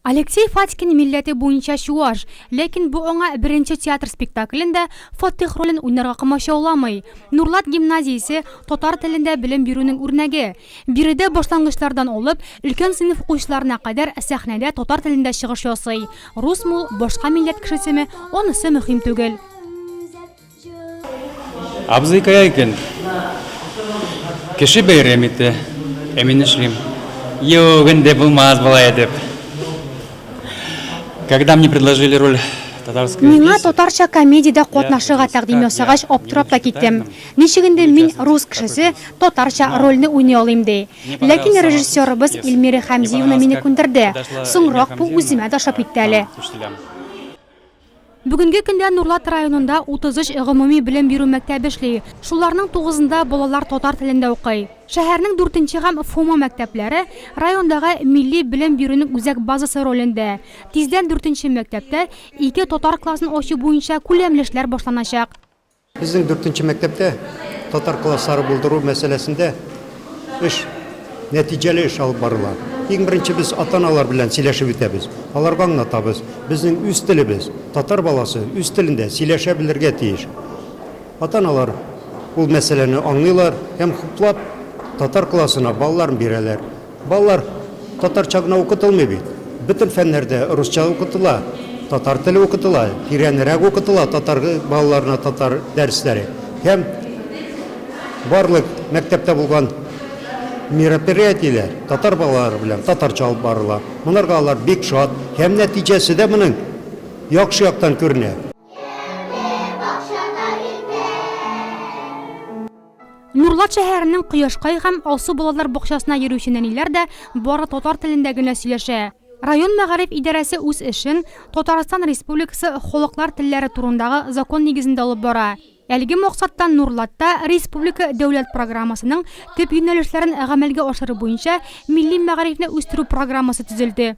Алексей Фатькин милләте буенча чуаш, ләкин бу аңа беренче театр спектаклендә Фатыйх ролен уйнарга комачауламый. Нурлат гимназиясе, татар телендә белем бирүнең үрнәге. Биредә башлангычлардан алып, өлкән сыйныф укучыларына кадәр сәхнәдә татар телендә чыгыш ясый. Русмы ул, башка милләт кешесеме, анысы мөһим түгел. Абзый кая икән? Кеше бәйрәм итә. Ә мин эшлим. Юк, инде булмас болай дип. Когда мне предложили роль татарская Миңа татарча комедиядә катнашырга тәкъдим ясагач, аптырап та киттем. Ничек инде мин рус кешесе татарча рольне уйный алыйм ди. Ләкин режиссерыбыз Эльмира Хәмзиевна мине күндерде. Соңрак бу үземә дә ошап китте әле. Бүгенге көндә Нурлат районында 33 гомуми белем бирү мәктәбе эшли. Шуларның тугызында балалар татар телендә укый. Шәһәрнең дүртенче һәм ФОМА мәктәпләре райондагы милли белем бирүнең үзәк базасы ролендә. Тиздән дүртенче мәктәптә ике татар классын ачу буенча күләмле эшләр башланачак. Безнең дүртенче мәктәптә татар класслары булдыру мәсьәләсендә эш, нәтиҗәле эш алып барыла. Иң беренче без ата-аналар белән сөйләшеп үтәбез, аларга аңлатабыз, безнең үз телебез, татар баласы үз телендә сөйләшә белергә тиеш. Ата-аналар ул мәсьәләне аңлыйлар һәм хуплап татар классына балаларын бирәләр. Балалар татарча гына укытылмый бит. Бөтен фәннәрдә русча укытыла, татар теле укытыла, тирәнрәк укытыла татар балаларына татар дәресләре. Һәм барлык мәктәптә булган мероприятиеләр татар балалары белән татарча алып барыла. Монарга алар бик шат һәм нәтиҗәсе дә моның яхшы яктан күренә. Нурлат шәһәренең Кояшкай һәм Алсу балалар бакчасына йөрүче нәниләр дә бары татар телендә генә сөйләшә. Район мәгариф идарәсе үз эшен Татарстан Республикасы Халыклар телләре турындагы закон нигезендә алып бара. Әлеге максаттан Нурлатта республика дәүләт программасының төп юнәлешләрен гамәлгә ашыру буенча милли мәгарифне үстерү программасы төзелде.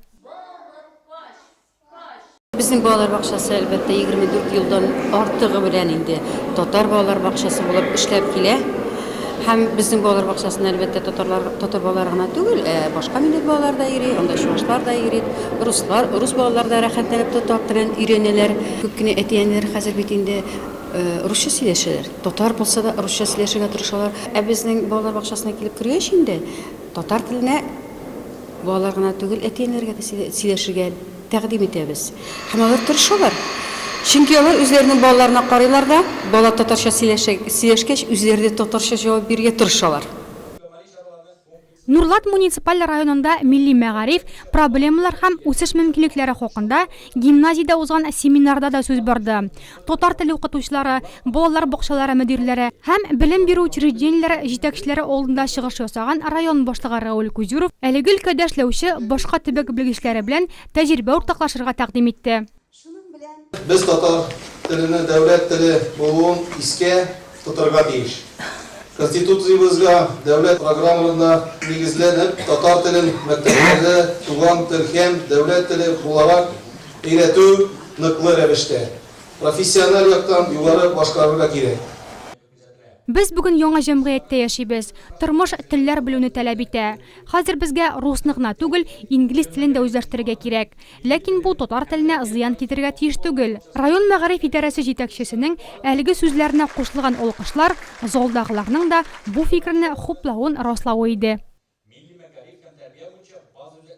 Безнең балалар бакчасы, әлбәттә, 24 елдан артыгы белән инде татар балалар бакчасы булып эшләп килә. Һәм безнең балалар бакчасына, әлбәттә, татарлар, татар балалары гына түгел, ә башка милләт балалары да йөри, анда чувашлар да йөри, руслар, рус балалары да рәхәтләнеп татар телен өйрәнәләр. Күп кенә әти-әниләр хәзер бит инде русча сөйләшәләр, татар булса да русча сөйләшергә тырышалар. Ә безнең балалар бакчасына килеп кергәч инде, татар теленә Балалар гына түгел, әти-әниләргә дә сөйләшергә тәкъдим итәбез. Һәм алар тырышалар. Чөнки алар үзләренең балаларына карыйлар да, бала татарча сөйләшкәч, үзләре дә татарча җавап бирергә тырышалар. Нурлат муниципаль районында милли мәгариф, проблемалар һәм үсеш мөмкинлекләре хакында гимназиядә узган семинарда да сүз барды. татар теле укытучылары, балалар бакчалары мөдирләре һәм белем бирү учреждениеләре җитәкчеләре алдында чыгыш ясаган район башлыгы Рауль Кузюров әлеге өлкәдә эшләүче башка төбәк белгечләре белән тәҗрибә уртаклашырга тәкъдим итте. Без татар теленең дәүләт теле булуын искә тотарга тиеш. Конституциябезгә, дәүләт программаларына нигезләнеп, татар телен мәктәпләрдә туган тел һәм дәүләт теле буларак Өйрәтү ныклы рәвештә, профессиональ яктан югары башкарырга кирәк. Без бүген яңа җәмгыятьтә яшибез. Тормыш телләр белүне тәләп итә. Хәзер безгә русны гына түгел, инглиз телен дә үзләштерергә кирәк. Ләкин бу татар теленә зыян китерергә тиеш түгел. Район мәгариф идарәсе җитәкчесенең әлеге сүзләренә кушылган алкышлар залдагыларның да бу фикерне хуплавын раславы иде.